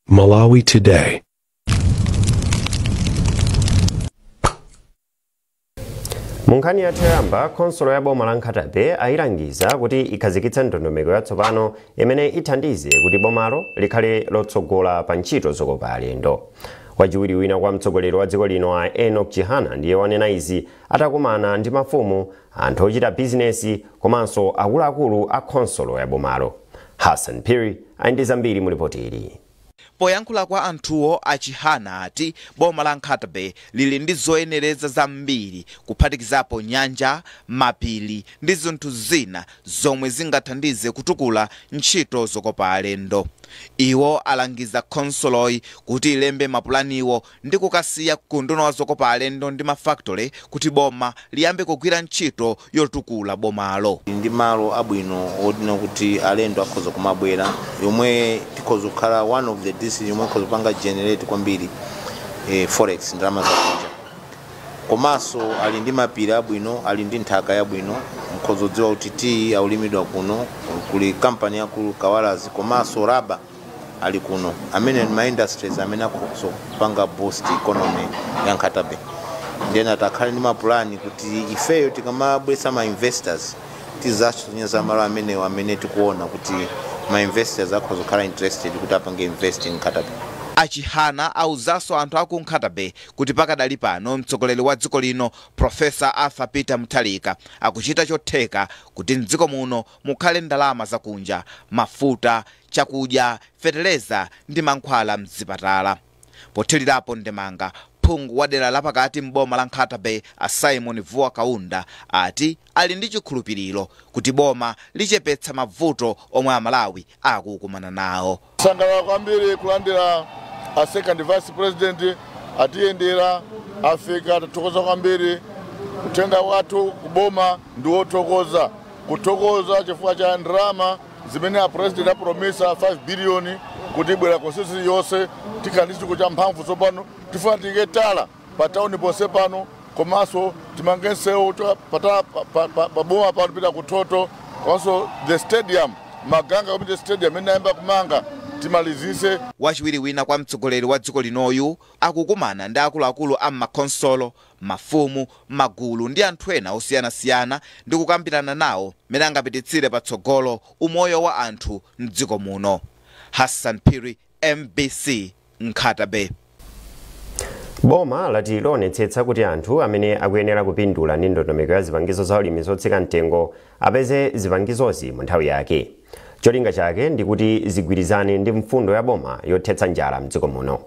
Malawi Today. mu nkhani yathu yoyamba khonsolo ya boma la Nkhata Bay ayilangiza kuti ikhazikitse ndondomeko yatsopano imene ithandize kuti bomalo likhale lotsogola pa ntchito zokopa alendo wachiwiri wina kwa mtsogoleri wa dziko lino a Enoch Chihana ndiye wanena izi atakumana ndi mafumu anthu ochita bizinesi komanso akuluakulu a khonsolo ya bomalo. Hassan Phiri ali ndi zambiri mu lipoti ili. Poyankhula kwa anthuwo, a Chihana ati boma la Nkhata Bay lili ndi zoyenereza zambiri kuphatikizapo nyanja, mapiri ndi zinthu zina zomwe zingathandize kutukula ntchito zokopa alendo. Iwo alangiza khonsoloyi kuti ilembe mapulaniwo ndi kukasiya ku unduna wa zokopa alendo ndi ma factory kuti boma liyambe kugwira ntchito yotukula bomalo. Ali ndi malo abwino onena kuti alendo akhoza kumabwera yomwe ikhoza kukhala one of the district yomwe ikhoza kupanga generate kwambiri eh, forex ndalama zakunja komanso ali ndi mapiri abwino ali ndi nthaka yabwino mkhoza kudziwa kuti tiyi akulimidwa kuno kuli kampani yaikulu kawalazi komanso raba ali kuno amene ma industries amene akhoza kupanga boost economy ya Nkhata Bay nde ndinati akhale ndi mapulani kuti ifeyo tikamabweretsa ma investors tizawasonyeza malo amenewo amene tikuona kuti ma investors akhoza kukhala interested kuti apange invest in Nkhata Bay A Chihana auzanso anthu aku Nkhata Bay kuti pakadali pano mtsogoleri wa dziko lino Professor Arthur Peter Mutharika akuchita chotheka kuti m'dziko muno mukhale ndalama zakunja, mafuta, chakudya, fetereza ndi mankhwala m'zipatala. Pothilirapo ndemanga, phungu wa dera lapakati m'boma la Nkhata Bay a Symon Vuwa Kaunda ati ali ndi chikhulupiliro kuti boma lichepetsa mavuto omwe Amalawi akukumana nawo. Tasangalala kwambiri kulandira a second vice president atiyendera afika tathokoza kwambiri uthenga wathu kuboma ndi wothokoza kuthokoza chifukwa cha ndalama zimene a president apromisa 5 biliyoni kuti ibwera constituency iliyonse tikhala ndi chitukuko cha mphamvu tsopano tifuna tiike tala pa town ponse pano komanso timange nseu wa tala pa boma pano pita ku Thotho komanso the stadium maganga community stadium imene anayamba kumanga timalizise wachiwiri wina kwa mtsogoleri wa dziko linoyu akukumana ndi akuluakulu a m'makhonsolo mafumu magulu ndi anthu ena osiyanasiyana ndi kukambirana nawo mmene angapititsire patsogolo umoyo wa anthu mdziko muno hassan phiri mbc nkhata bay. Boma lati lionetsetsa kuti anthu amene akuyenera kupindula ndi ndondomeko ya zipangizo za ulimi zotsika mtengo apeze zipangizozi mu nthawi yake. Cholinga chake ndi kuti zigwirizane ndi mfundo ya boma yothetsa njala mdziko muno.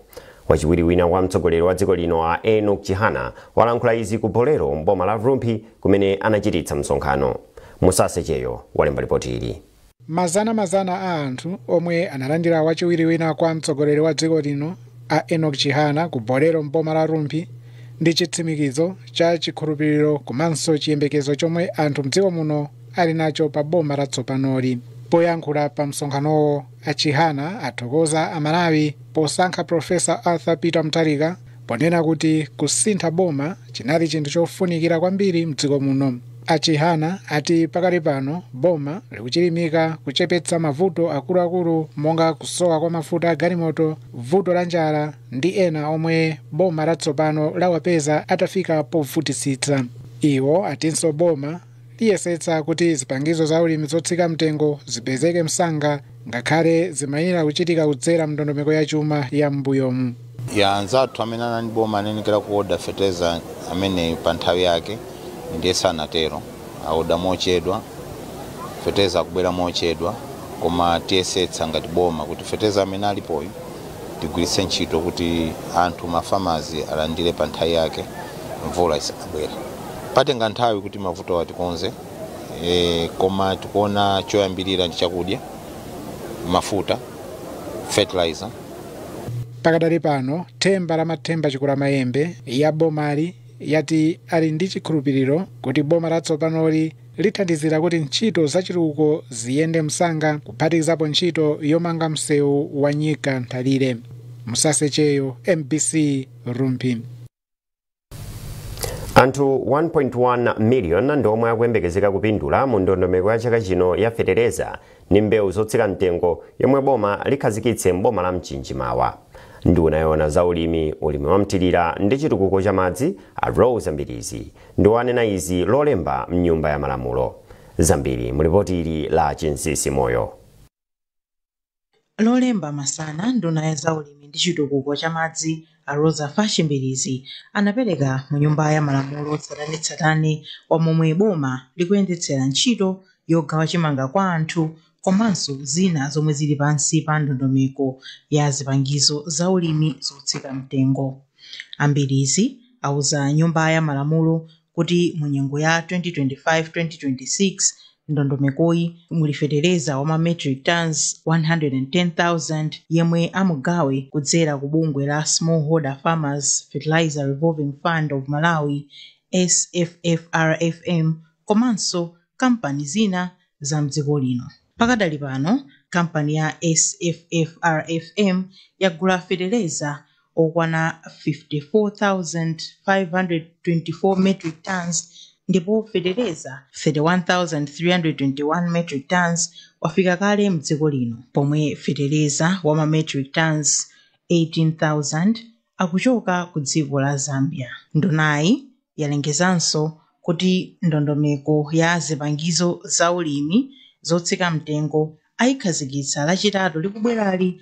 Wachiwiri wina kwa mtsogoleri wa dziko lino a Enock Chihana walankhula izi ku Bolero m'boma la Rumphi kumene anachititsa msonkhano. Musase Cheyo walemba lipoti ili. Mazana mazana a anthu omwe analandira wachiwiri wina kwa mtsogoleri wa dziko lino a Enock Chihana ku Bolero m'boma la Rumphi ndi chitsimikizo cha chikhulupiriro komanso chiyembekezo chomwe anthu mdziko muno ali nacho pa boma la tsopanoli. Poyankhula pa msonkhanowo a Chihana athokoza a Malawi posankha Prof. Arthur Peter Mutharika ponena kuti kusintha boma chinali chinthu chofunikira kwambiri mdziko muno. A Chihana ati pakali pano boma likuchilimika kuchepetsa mavuto akuluakulu monga kusowa kwa mafuta a galimoto, vuto la njala ndi ena omwe boma latsopano lawapeza atafika povutitsitsa. Iwo atinso boma liyesetsa kuti zipangizo za ulimi zotsika mtengo zipezeke msanga ngakhale zimayenera kuchitika kudzera mndondomeko ya chuma ya m'mbuyomu ya anzathu amene anali boma anenekera kuoda fertilizer amene pa nthawi yake ndiye sanatero aoda mochedwa fertilizer akubwera mochedwa koma tiyesetsa ngati boma kuti fertilizer amene alipoyu tigwiritse ntchito kuti anthu mafamazi alandire pa nthawi yake mvula isanabwere patenga nthawi kuti mavutowa tikonze e, koma tikuona choyambirira ndi chakudya mafuta fertilizer pakadali pano themba la mathemba Chikulamayembe ya bomali yati ali ndi chikhulupiriro kuti boma latsopanoli lithandizira kuti ntchito zachitukuko ziyende msanga kuphatikizapo ntchito yomanga msewu wa nyika nthalire Musase Cheyo mbc rumphi anthu 1.1 miliyoni ndi omwe akuyembekezeka kupindula mu ndondomeko ya chaka chino ya fetereza ndi mbewu zotsika mtengo yomwe boma likhazikitse m'boma la mchinji mawa nduna yoona za ulimi ulimi wamthirira ndi chitukuko cha madzi a Roza Mbilizi ndiwo anena izi lolemba mnyumba ya malamulo zambiri mulipoti ili la chinsisi moyo Lolemba masana, nduna ya zaulimi ndi chitukuko cha madzi a Roza Fatch Mbilizi anapereka mu nyumba ya malamulo tsatanetsatane wa momwe boma likuyendetsera ntchito yogawa chimanga kwa anthu komanso zina zomwe zili pansi pa ndondomeko ya zipangizo zaulimi zotsika mtengo. A Mbilizi auza nyumba ya malamulo kuti mu nyengo ya 2025-2026 m'ndondomekoyi muli fetereza wa ma metric tons 110,000 yemwe amugawe kudzera ku bungwe la Smallholder Farmers Fertilizer Revolving Fund of Malawi, SFFRFM, komanso kampani zina za m'dziko lino. Pakadali pano, kampani ya SFFRFM yagula fetereza okwana 54,524 metric tonnes ndipo fetereza 31,321 metric tonnes wafika kale mdziko lino pomwe fetereza wa ma metric tonnes 18,000 akuchoka ku dziko la Zambia. Ndunayi yalengezanso kuti ndondomeko ya zipangizo za ulimi zotsika mtengo ayikhazikitsa lachitatu likubwerali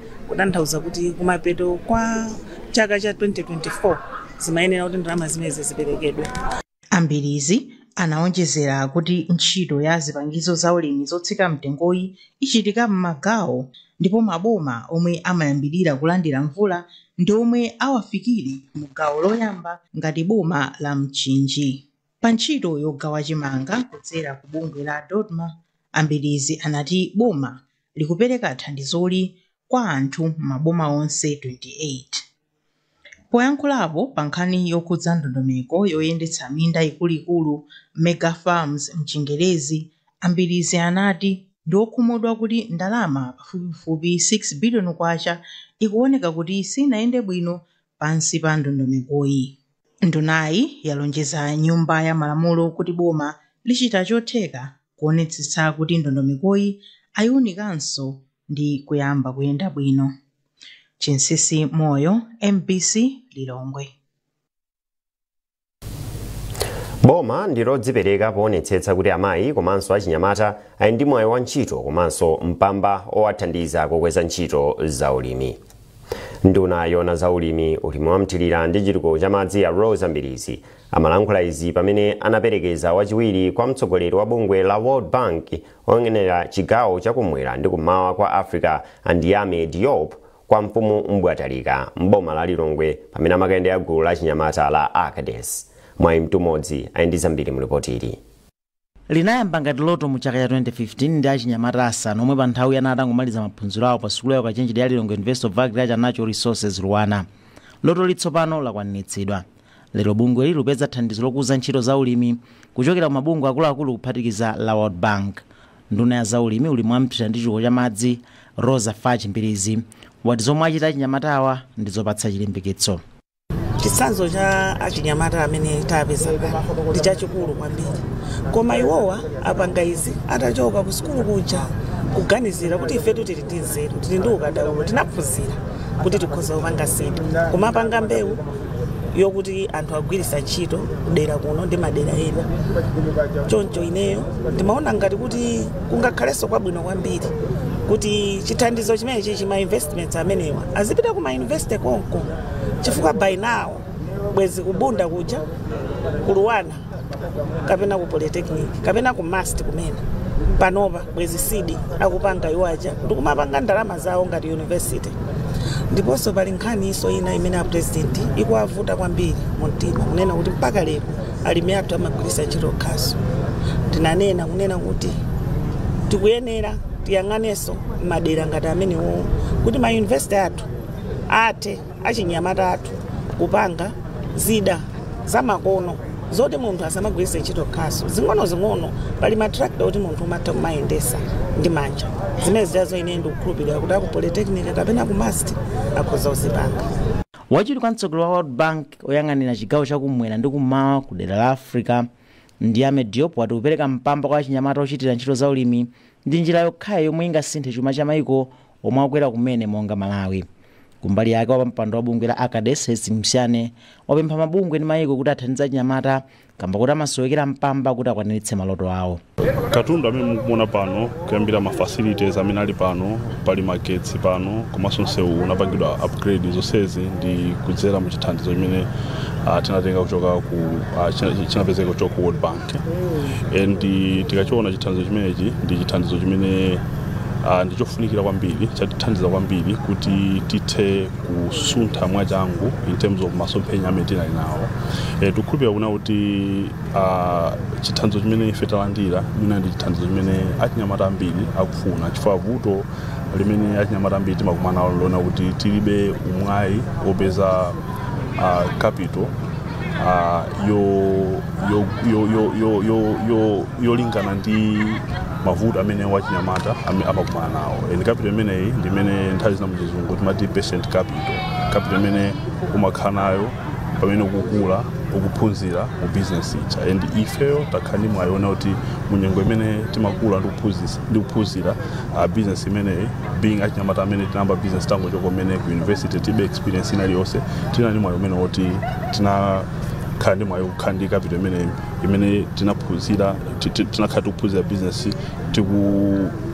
kutanthauza kuti kumapeto kwa chaka cha 2024 zimayenera kuti ndalama zimenezi ziperekedwe a mbilizi anawonjezera kuti ntchito ya zipangizo za ulimi zotsika mtengoyi ichitika m'magawo ndipo maboma omwe amayambirira kulandira mvula ndi omwe awafikire mu gawo loyamba ngati boma la mchinji Pa ntchito yogawa chimanga kudzera ku bungwe la Dodma, a Mbilizi anati boma likupereka thandizoli kwa anthu m'maboma onse 28. Poyankhulapo pa nkhani yokhudza ndondomeko yoyendetsa minda ikuluikulu, Mega Farms mchingerezi, a Mbilizi anati ndi okhumudwa kuti ndalama pafupifupi 6 biliyoni kwacha ikuoneka kuti sinayende bwino pansi pa ndondomekoyi. Ndunayi yalonjeza Nyumba ya Malamulo kuti boma lichita chotheka kuonetsetsa kuti ndondomekoyi ayiunikanso ndi kuyamba kuyenda bwino. Chinsisi Moyo, mbc, Lilongwe. boma ndilodzipereka poonetsetsa kuti amayi komanso achinyamata ali ndi mwayi wa ntchito komanso mpamba owathandiza kukweza ntchito za ulimi nduna yona za ulimi ulimi wamthirira ndi chitukuko cha madzi a roza mbilizi amalankhula izi pamene anaperekeza wachiwiri kwa mtsogoleri wa bungwe la world bank oyang'anira chigawo chakumwera ndi kummawa kwa africa a ndiame diop kwa mfumu Mbwatalika m'boma la Lilongwe pamene amakayendera gulu la achinyamata la Acades. Mwayi Mtumodzi ali ndi zambiri mu lipoti ili. linayamba ngati loto mu chaka cha 2015 ndi achinyamata asanu omwe pa nthawiyo anali atangomaliza maphunziro awo pa sukulu ya ukachenjede ya Lilongwe University of Agriculture and Natural Resources Luanar. Lotoli tsopano lakwaniritsidwa. Lero bungweli likupeza thandizo lokuza ntchito za ulimi kuchokera ku mabungwe akuluakulu kuphatikizapo la World Bank. Nduna ya zaulimi, ulimi wa mthilira ndi chitukuko cha madzi, Roza Fachi Mbilizi, wati zomwe achita achinyamatawa ndi zopatsa chilimbikitso. Chitsanzo cha achinyamata amene tapeza pano ndi chachikulu kwambiri, koma iwowa apanga izi atachoka ku sukulu kuja kuganizira kuti ifetu tili ndi nzeru, tili ndi ukadaulo, tinaphunzira kuti tikhoza kupanga zinthu, koma apanga mbewu, yokuti anthu agwiritsa ntchito kudera kuno ndi madera ena choncho ineyo ndimaona ngati kuti kungakhalenso kwabwino kwambiri kuti chithandizo chimenechi chi ma investments amenewa azipita ku ma university konko chifukwa by now bwezi ku Bunda kuja ku LUANAR kapena ku polytechnic kapena ku MUST kumene panopa bwezi seed akupanga iwo aja ndikumapanga ndalama zawo ngati university ndiponso pali nkhaninso ina imene apurezidenti ikuwavuta kwambiri mu mtima kunena kuti mpaka lero alimi athu amagwiritsa ntchito khasu ndinanena kunena kuti tikuyenera tiyang'anenso madera ngati amenewo kuti mayunivesiti athu athe achinyamata athu kupanga zida zamakono zoti munthu asamagwiritse ntchito khasu zing'onozing'ono pali matrakita oti munthu umatha kumayendesa ndi manja zimene zidazo ine ndikukhulupirira kuti aku polytechnic kapena ku MUST akhoza kuzipanga wachiwiri kwa mtsogoleri wa world bank oyang'anira chigawo chakumwera ndi kummawa ku dera la africa Ndiame Diop wati kupereka mpamba kwa achinyamata ochitira ntchito za ulimi ndi njira yokhayo yomwe ingasinthe chuma cha maiko omwe akukwera kumene monga Malawi. Kumbali yake wapa mpando wa bungwe la Acades Hastings Nhlane wapempha mabungwe ndi mayiko kuti athandize achinyamata kamba kuti amasowekera mpamba kuti akwaniritse maloto awo. Katundu amene mukumona pano kuyambira ma facilities amene ali pano pali magetsi pano komanso msewu unapangidwa upgrade zonsezi ndi kudzera mu chithandizo chimene ah, tinatenga kuchoka ku ah, china- chinapezeka kuchoka ku World Bank. and tikachiona chithandizo chimenechi ndi chithandizo chimene uh, ndi chofunikira kwambiri chatithandiza kwambiri kuti tithe kusuntha mwachangu in terms of masomphenya amene tinali nawo e, tikukhulupirira kunena kuti uh, chithandizo chimene ife talandira mwina ndi chithandizo chimene achinyamata ambiri akufuna chifukwa vuto limene achinyamata ambiri timakumana nalo lonena kuti tilibe umwayi wopeza uh, capital ah, yo- yo- yo- yo- yo- yo- yo- yolingana ndi mavuto amene wachinyamata ame- amakumana nawo and capital imeneyi ndi imene nthawi zina muchizungu timati patient capital capital imene umakhala nayo pamene ukukula ukuphunzira mu business ija and ifeyo takhala ndi mwayi onena kuti munyengo imene timakula ndi kuphunzisa- ndi kuphunzira uh, business imeneyi being achinyamata amene tinayamba business tangochoka umene ku university tilibe experience ina iliyonse tinali ndi mwayi umene woti tinakhala ndi mwayi kukhala ndi capital imeneyi imene tinaphunzira ti- ti- tinakhala tikuphunzira business tiku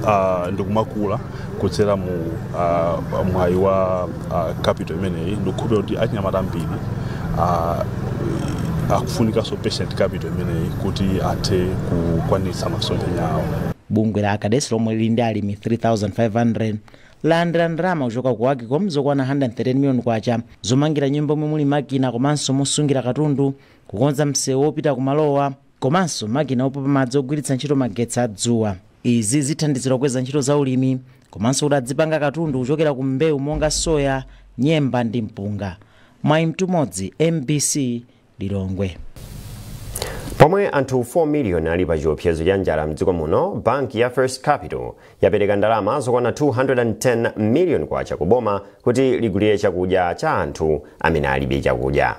uh, ndikumakula kudzera mu uh, mwayi wa uh, capital imeneyi ndikukhulupirira kuti achinyamata ambiri uh, akufunikanso patient capital imeneyi kuti athe kukwanitsa masomphenya awo bungwe la ACADES lomwe lili ndi alimi 3500 lalandira ndalama kuchoka ku AGCOM zokwana 130 miliyoni kwacha zomangira nyumba yomwe muli makina komanso mosungira katundu kukonza msewu wopita kumalowa komanso makina opopa madzi ogwiritsa ntchito magetsi a dzuwa. Izi zithandizira kukweza ntchito za ulimi komanso kuti adzipanga katundu kuchokera ku mbewu monga soya, nyemba ndi mpunga. Mwayi Mtumodzi, mbc, Lilongwe. Pomwe anthu 4 million ali pa chiopsezo cha njala mdziko muno, banki ya First Capital yapereka ndalama zokwana 210 million kwacha ku boma kuti ligulire chakudya cha anthu amene alibe chakudya.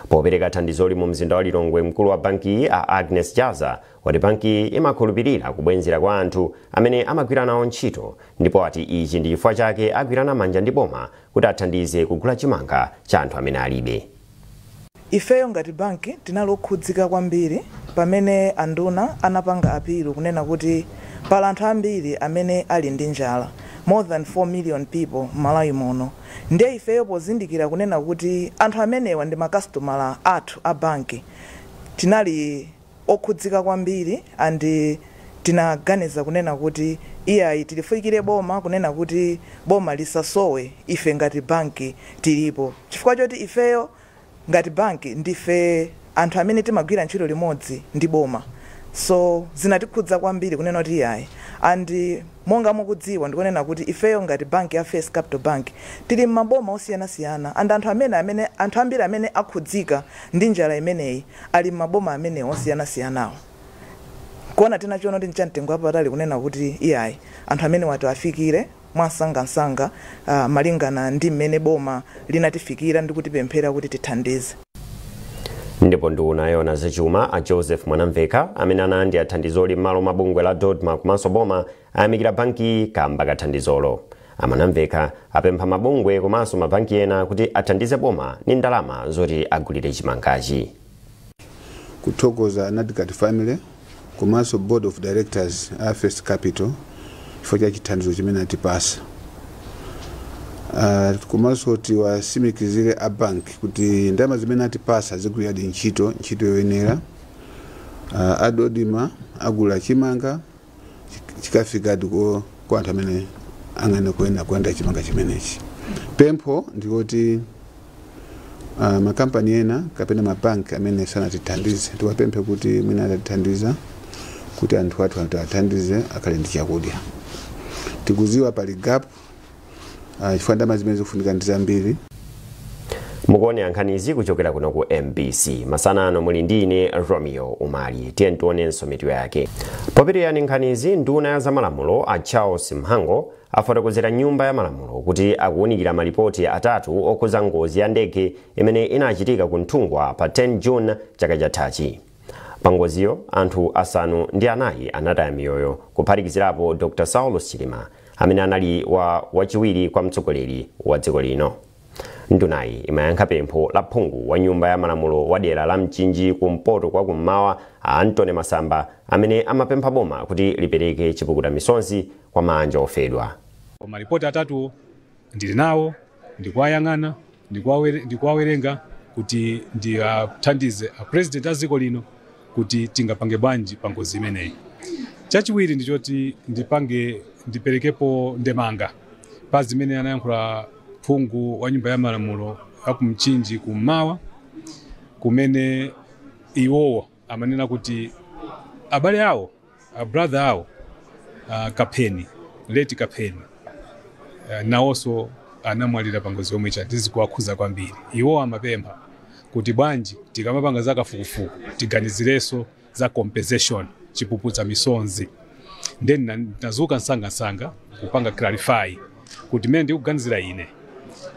Popereka thandizoli mu mzinda wa Lilongwe, mkulu wa bankiyi a Agness Jazza wati bankiyi imakhulupilira kubwenzera kwa anthu amene amagwira nawo ntchito ndipo wati ichi ndi chifukwa chake agwirana manja ndi boma kuti athandize kugula chimanga cha anthu amene alibe. Ifeyo ngati banki tinali okhudzika kwambiri pamene anduna anapanga appeal kunena kuti pali anthu ambiri amene ali ndi njala more than 4 million people m'Malawi muno. Ndiye ifeyo pozindikira kunena kuti anthu amenewa ndi makasitomala athu a banki, tinali okhudzika kwambiri and tinaganiza kunena kuti iyayi tilifikire boma kunena kuti boma lisasowe ife ngati banki tilipo chifukwa choti ifeyo ngati bank ndife anthu amene timagwira ntchito limodzi ndi boma so zinatikhudza kwambiri kunena kuti iyayi and monga mukudziwa ndikunena kuti ifeyo ngati bank ya First Capital Bank tili mmaboma osiyanasiyana and anthu amene amene anthu ambiri amene akhudzika ndi njala imeneyi ali mmaboma amenewo osiyanasiyanawo nkuona tinachiona kuti nchamtengo wapatali kunena kuti iyayi anthu amenewa tiwafikire mwamsangamsanga malingana ndi mmene boma linatifikira ndi kutipemphera kuti tithandize. Ndipo nduna yoona zachuma a Joseph Mwanamvekha amene analandira thandizoli m'malo mwa bungwe la Dodma komanso boma ayamikira bankiyi kaamba ka thandizolo. A Mwanamvekha apempha mabungwe komanso mabanki ena kuti athandize boma ndi ndalama zoti agulire chimangachi. Kuthokoza Anadkat Family komanso Board of Directors a First Capital chifukwa cha chithandizo chimene atipasa. Uh, komanso tiwasimikizire a bank kuti ndalama zimene atipasa zigwiradi ntchito ntchito yoyenera. Uh, a Dodma agula chimanga chik- chikafikadi ko- kwa anthu amene angene kuyenera kulandira chimanga chimenechi pempho ndikuti uh, makampani ena kapena mabanki amene sanatithandize tiwapemphe kuti mwina atatithandiza kuti anthu athu tiwathandize akhale ndi chakudya tikuziwa pali gap Ah, chifukwa ndalama zimene zikufunika ndi zambiri mukuonera nkhanizi kuchokera kuno ku mbc masana ano muli ndi ine romeo umali tiye tionenso mitu yake popitiriza nkhanizi nduna ya zamalamulo a charles mhango afotokozera nyumba ya malamulo kuti akuwunikira malipoti atatu okhuza ngozi ya ndege imene inachitika ku nthungwa pa 10 june chaka chathachi Pangoziyo, anthu asanu ndi anayi anataya miyoyo, kuphatikizirapo Dr Saulos Chilima, amene anali wachiwiri kwa mtsogoleri wa dziko lino. Ndunayi imayankha pempho la phungu wa nyumba ya malamulo wa dera la Mchinji kumpoto kwa kummawa a Anthony Masamba amene amapempha boma kuti lipereke chipukuta misonzi kwa maanja ofedwa. Malipoti atatuwo Ndili nawo, ndikuwayang'ana, ndikuwawerenga kuti ndiwathandize a President a dziko lino kuti tingapange bwanji pa ngozi imeneyi. Chachiwiri ndi choti ndipange, ndiperekepo ndemanga pa zimene anayankhula phungu wa nyumba ya malamulo a ku Mchinji kummawa kumene iwowo, amanena kuti abale awo a brother awo uh, kapeni late kapeni uh, nawonso anamwalira pangozi yomweyo ndi zikuwakhuza kwambiri iwo amapempha kuti bwanji tikamapanga za kafukufuku tiganizirenso za compensation chipuputsa misonzi ndiye ndinadzuka msangamsanga kupanga clarify kuti mmene ndikuganizira ine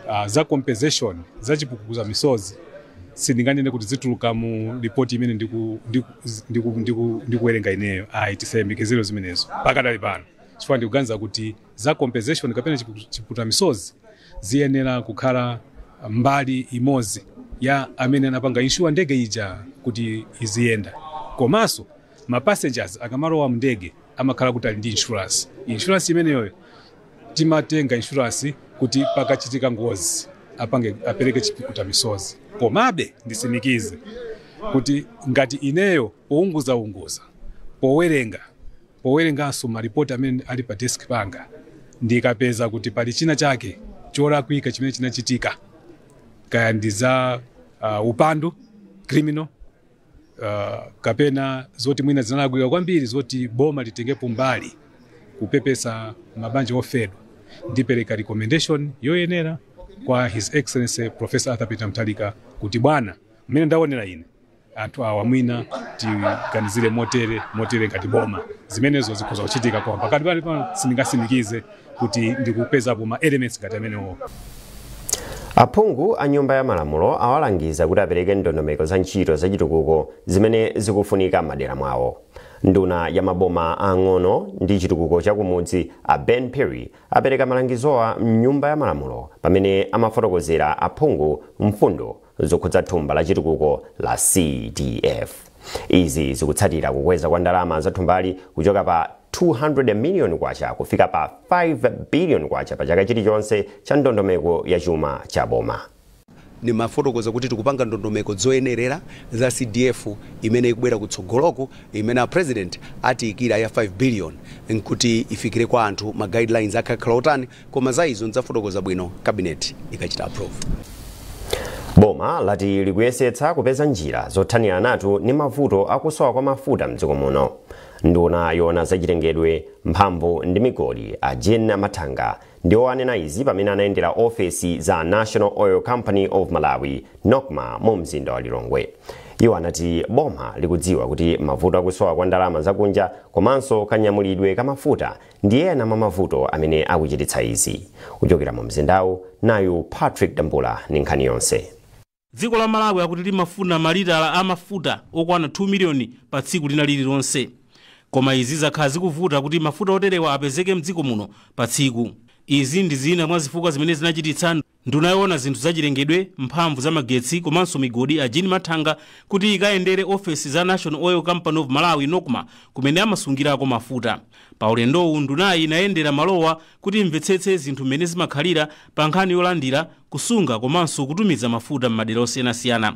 uh, za compensation za chipukutsa misozi sindinganene kuti zituluka mu ripoti imene ndiku- ndiku- ndiku- ndiku- ndikuwerenga ineyo ayi tisayembekezere zimenezo pakadali pano chifukwa ndikuganiza kuti za compensation kapena chipu- chipukuta misozi ziyenera kukhala mbali imodzi ya amene anapanga inshuwa ndege ija kuti iziyenda komanso Ma passengers akamalowa mndege amakhala kuti ali ndi insurance. Insurance imeneyoyo timatenga insurance kuti pakachitika ngozi apange apereke chipukuta misozi. Komabe ndisimikize kuti ngati ineyo pounguza unguza powerenga powerenganso malipoti amene ali pa desk panga ndikapeza kuti pali china chake cholakwika chimene chinachitika kaya ndi za uh, upandu criminal uh, kapena zoti mwina zinalakwika kwambiri zoti boma litengepo mbali kupepesa mabanja ofedwa ndipereka recommendation yoyenera kwa his excellency professor arthur peter mutharika kuti bwana mmene ndaonera ine anthu awa mwina tiganizire motere motere ngati boma zimenezo zikhoza kuchitika koma pakadali pano sindingatsimikize kuti ndikupezapo ma elements ngati amenewo aphungu a nyumba ya malamulo awalangiza kuti apereke ndondomeko za ntchito zachitukuko zimene zikufunika m'madera mwawo nduna ya maboma ang'ono ndi chitukuko cha kumudzi a ben phiri apereka malangizowa mnyumba ya malamulo pamene amafotokozera aphungu mfundo zokhudza thumba la chitukuko la CDF. Izi zikutsatira kukweza kwa ndalama za thumbali kuchoka pa 200 million kwacha kufika pa 5 billion kwacha pa chaka chilichonse cha ndondomeko ya chuma cha boma. ndimafotokoza kuti tikupanga ndondomeko zoyenerera za cdf imene ikubwera kutsogoloku imene a president atiyikira ya 5 billion nkuti ifikire kwa anthu ma guidelines akakhala otani Koma za izo ndidzafotokoza bwino cabinet ikachita approve. Boma lati likuyesetsa kupeza njira zothaniranatu ndi mavuto akusowa kwa mafuta mdziko muno. Nduna yoona zachilengedwe, mphamvu ndi migodi a Jean Mathanga ndiwo anena izi pamene anayendera ofesi za National Oil Company of Malawi, Nocma, mu mzinda wa Lilongwe. Iwo anati boma likudziwa kuti mavuto akusowa kwa ndalama zakunja komanso kanyamulidwe ka mafuta Ndi ena mwa mavuto amene akuchititsa izi. Kuchokera mu mzindawu, nayu Patrick Dambula ndi nkhani yonse. Dziko la Malawi akuti limafuna malita a mafuta okwana 2 million pa tsiku lina lililonse. Koma izi zakhala zikuvuta kuti mafuta oterewa apezeke mdziko muno pa tsiku. Izi ndi zina mwa zifukwa zimene zinachititsa nd. Nduna yoona zinthu zachilengedwe, mphamvu za magetsi komanso migodi a Jean Mathanga kuti ikayendere ofesi za National Oil Company of Malawi, Nocma, kumene amasungirako mafuta. Pa ulendowu ndunayi inayendera malowa kuti imvetsetse zinthu mmene zimakhalira pa nkhani yolandira, kusunga komanso kutumiza mafuta m'madera osiyanasiyana.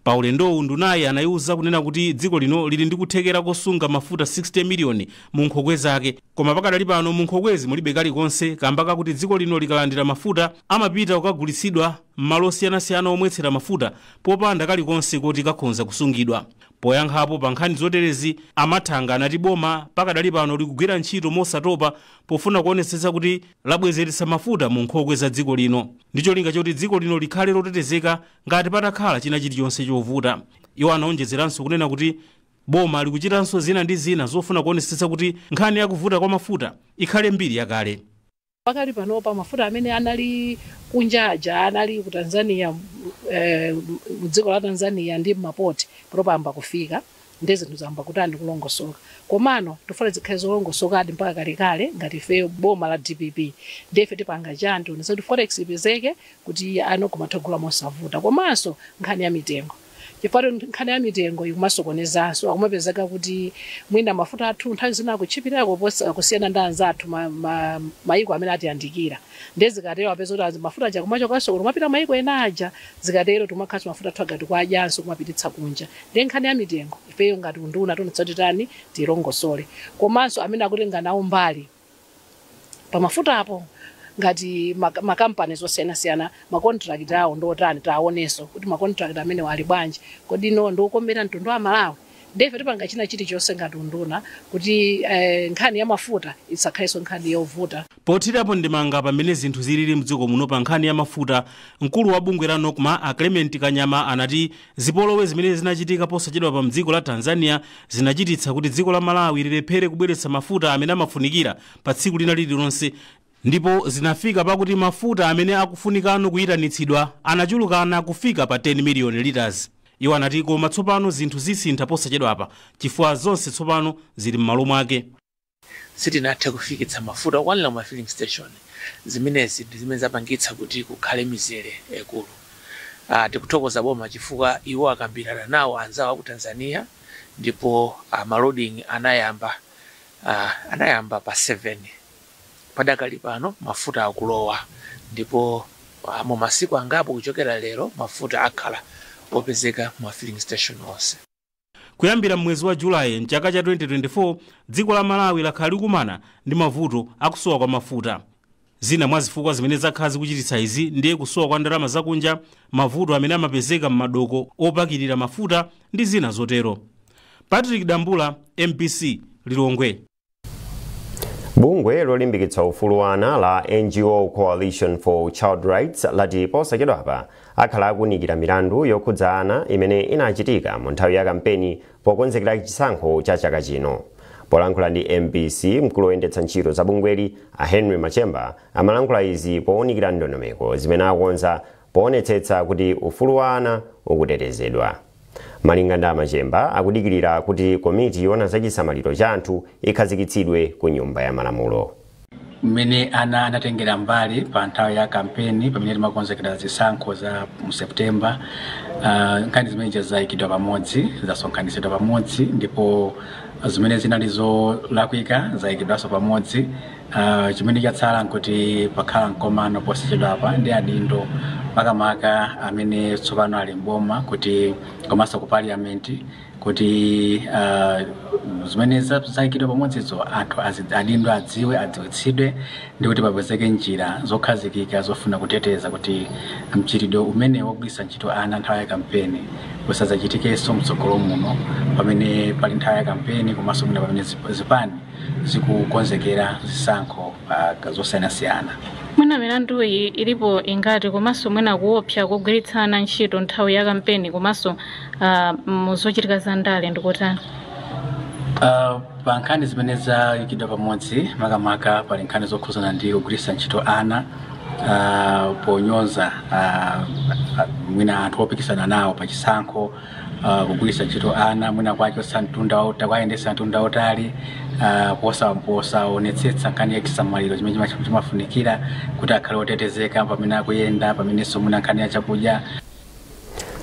Pa ulendowu ndunayi anaiuza kunena kuti dziko lino lili ndi kuthekera kosunga mafuta 60 miliyoni mu nkhokwe zake, Koma pakadali pano mu nkhokwezi mulibe kalikonse kamba kakuti dziko lino likalandira mafuta amapita kukagulitsidwa m'malo osiyanasiyana omwetsera mafuta popanda kalikonse koti kakhonza kusungidwa. Poyankhapo pa nkhani zoterezi, a Mathanga anati boma pakadali pano likugwira ntchito mosatopa pofuna kuonetsetsa kuti labwezeretsa mafuta mu nkhokwe za dziko lino ndi cholinga choti dziko lino likhale lotetezeka ngati patakhala china chilichonse chovuta. Iwo anaonjezeranso kunena kuti Boma likuchitanso zina ndi zina zofuna kuonetsetsa kuti nkhani ya kuvuta kwa mafuta ikhale mbiri yakale. Pakali panopa mafuta amene anali kunja aja anali ku Tanzania mu dziko la Tanzania ndi mma port panopa ayamba kufika nde zinthu zayamba kutani kulongosoka komano tikufuna zikhale zolongosokadi mpaka kalekale ngati ifeyo boma la dpp nde ife tipanga chani tionetsetsa kuti forex ipezeke kuti anthu akumatha kugula mosavuta komanso nkhani ya mitengo Chifukwa nkhani ya mitengo ikumasokonezanso, akumapezeka kuti mwina mafuta athu nthawi zina akutchipirako kusiyana ndi anzathu ma, ma, mayiko amene atiyandikira. Ndiye zikatero apeza kuti azi- mafuta aja kumachokanso kuno kumapita mayiko ena aja, zikatero tikumakhalanso mafuta athu aja tikuwadyanso kumapititsa kunja. Ndiye nkhani ya mitengo ifeyo ngati unduna tionetsetsa kuti titani, tiilongosole. Komanso amene akutenga nawo mbali. pa mafutapo ngati ma, ma companies osiyanasiyana ma contract awo ndi otani taonenso kuti ma contract amenewo ali bwanji kodi ndi okomera mtundu wa Malawi ndiye ife tipanga china chilichonse ngati unduna kuti eh, nkhani ya mafuta isakhalenso nkhani yovuta Pothirapo ndemanga pa mmene zinthu zilili m'dziko muno pa nkhani ya mafuta, mkulu wa bungwe la Nocma a Clement Kanyama anati Zipolowe zimene zinachitika posachedwapa m'dziko la Tanzania zinachititsa kuti dziko la Malawi lilephere kubweretsa mafuta amene amafunikira pa tsiku lina lililonse ndipo zinafika pakuti mafuta amene akufunika kuyitanitsidwa anachulukana kufika pa 10 miliyoni litas. Iwo anati koma tsopano zinthu zisintha posachedwapa chifukwa zonse tsopano zili m'malo mwake. Sitinathe kufikitsa mafuta okwanira mu ma filling station. Zimenezi ndi zimene zapangitsa kuti kukhale mizere yaikulu. Tikuthokoza boma chifukwa iwo akambirana nawo anzawo a ku Tanzania ndipo ma loading anayamba anayamba pa 7. Padakali pano mafuta akulowa ndipo mu masiku angapo kuchokera lero mafuta akhala opezeka mu ma filling station onse. Kuyambira m'mwezi wa July m'chaka cha 2024, dziko la Malawi lakhala likukumana ndi mavuto a kusowa kwa mafuta. Zina mwa zifukwa zimene zakhala zikuchititsa izi ndiye kusowa kwa ndalama zakunja, mavuto amene amapezeka m'madoko opakirira mafuta ndi zina zotero. Patrick Dambula, mbc, Lilongwe. bungwe lolimbikitsa ufulu wa ana la ngo coalition for child rights lati posachedwapa akhala akuunikira milandu yokhudza ana imene inachitika mu nthawi ya kampeni pokonzekera chisankho cha chaka chino polankhula ndi mbc mkulu woyendetsa ntchito za bungweli a henry machemba amalankhula izi pounikira ndondomeko zimene akonza poonetsetsa kuti ufulu wa ana ukutetezedwa Malinga ndi a Machemba, akudikilira kuti komiti yoona za chisamaliro cha anthu ikhazikitsidwe ku Nyumba ya Malamulo. mmene ana anatengera mbali pa nthawi ya kampeni pamene timakonzekera zisankho za mu september Ah, nkhani zimenezi zayikidwa pamodzi zasonkhanitsidwa pamodzi ndipo zimene zinali zolakwika zayikidwanso pamodzi Uh, chimene chatsala nkuti pakhala mkomano posachedwapa ndi adindo makamaka amene tsopano ali mboma kuti komanso ku parliament kuti uh, zimene zayikidwa pamodzizo anthu adindo adziwe adziwitsidwe ndi kuti papezeke njira zokhazikika zofuna kuteteza kuti mchitidwe umenewu wogwiritsa ntchito ana nthawi ya kampeni usadzachitikenso mtsogolo muno pamene pali nthawi ya kampeni komanso mwina pamene zipani zikukonzekera zisankho uh, zosiyanasiyana mwina milanduyi ilipo ingati komanso mwina kuopsa kogwiritsa ana ntchito nthawi ya kampeni komanso uh, muzochitika za ndale ndikotani Uh, pa nkhani zimene zayikidwa pamodzi makamaka pali nkhani zokhuzana ndi kugwiritsa ntchito ana uh, ponyoza uh, mwina anthu opikisana nawo pa chisankho uh, kugwiritsa ntchito ana mwina kuwachotsa mtunda wa- kuwayendetsa mtunda wautali uh, posa posaonetsetsa nkhani ya chisamaliro chimene chima- chimafunikira kuti akhale otetezeka pamene akuyenda pamenenso mwina nkhani ya chakudya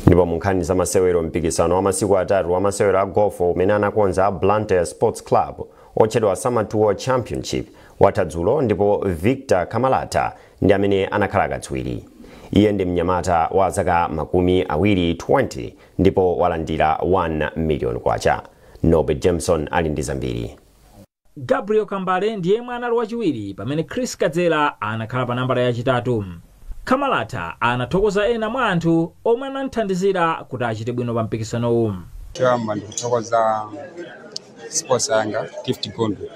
ndipo mu nkhani za masewero mpikisano wa masiku atatu wa masewero a golf umene anakonza a blantyre sports club otchedwa summer tour championship watha dzulo ndipo victor kamalata ndi amene anakhala katswiri. Iye ndi mnyamata wa zaka makumi awiri 20 ndipo walandira 1 million kwacha. Norbert Jameson ali ndi zambiri. Gabriel Kambale ndi yemwe anali wachiwiri pamene Chris Kadzela anakhala pa nambala yachitatu. Kamalata anathokoza ena mwa anthu omwe anamthandizira kuti achite bwino pa mpikisanowu. Choyamba ndikuthokoza sponsor yanga gift gondwe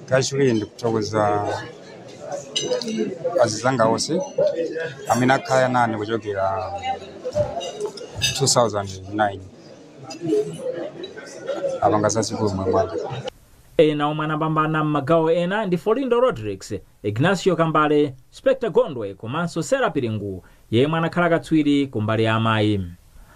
kachiwiri ndikuthokoza azizanga onse amene akhala nane kuchokera 2009 apanga zazikulu m'moyo mwanga ena omwe anapambana m'magawo ena ndi folindo rodrick ignacio kambale specta gondwe komanso sera piringu yemwe anakhala katswiri kumbali ya amayi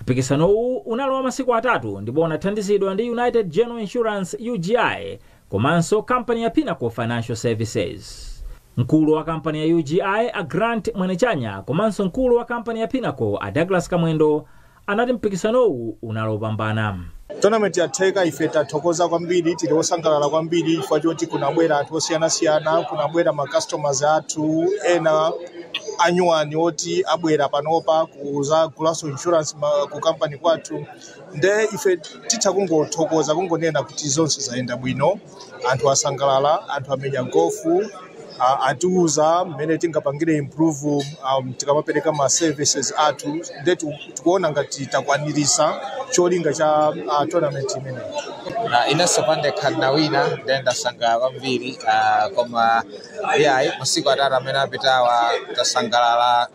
Mpikisanowu unali wa masiku atatu ndipo unathandizidwa ndi United General Insurance, UGI, komanso kampani ya Pinnacle Financial Services. Mkulu wa kampani ya UGI, a Grant Mwenechanya komanso mkulu wa kampani ya Pinnacle, a Douglas Kamwendo, anati mpikisanowu unali opambana. Tournament yatheka ife tathokoza kwambiri tili osangalala kwambiri chifukwa choti kunabwera anthu osiyanasiyana kunabwera ma customers athu ena anyuwani oti abwera panopa kuzagulanso insurance ma- ku company kwathu nde ife titha kungothokoza kungonena kuti zonse zayenda bwino anthu asangalala anthu amenya golf a- atiuza mmene tingapangire improve um, tikamapereka ma services athu nde tiku- tikuona ngati takwanirisa cholinga cha uh, tournament imeneyi inenso pandekha ndinawina nde ndasangalala kwambiri ah, koma iyayi masiku atatu amene apitawa tasangalala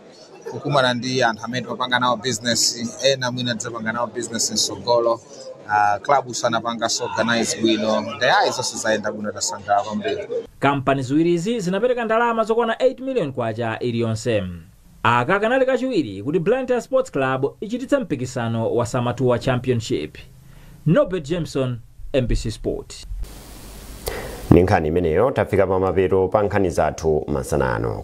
kukumana ndi anthu amene timapanga nawo business ena mwina tidzapanga nawo business msogolo uh, clubs anapangaso organize bwino nde ayayi zonse zayenda bwino tasangalala kwambiri kampani ziwirizi zinapereka ndalama zokwana 8 million kwacha iliyonse aka kanali kachiwiri kuti blantyre sports club ichititse mpikisano wa samatuwa championship nobert jameson mbc sport ndi nkhani imeneyo tafika pamapeto pa nkhani zathu masana ano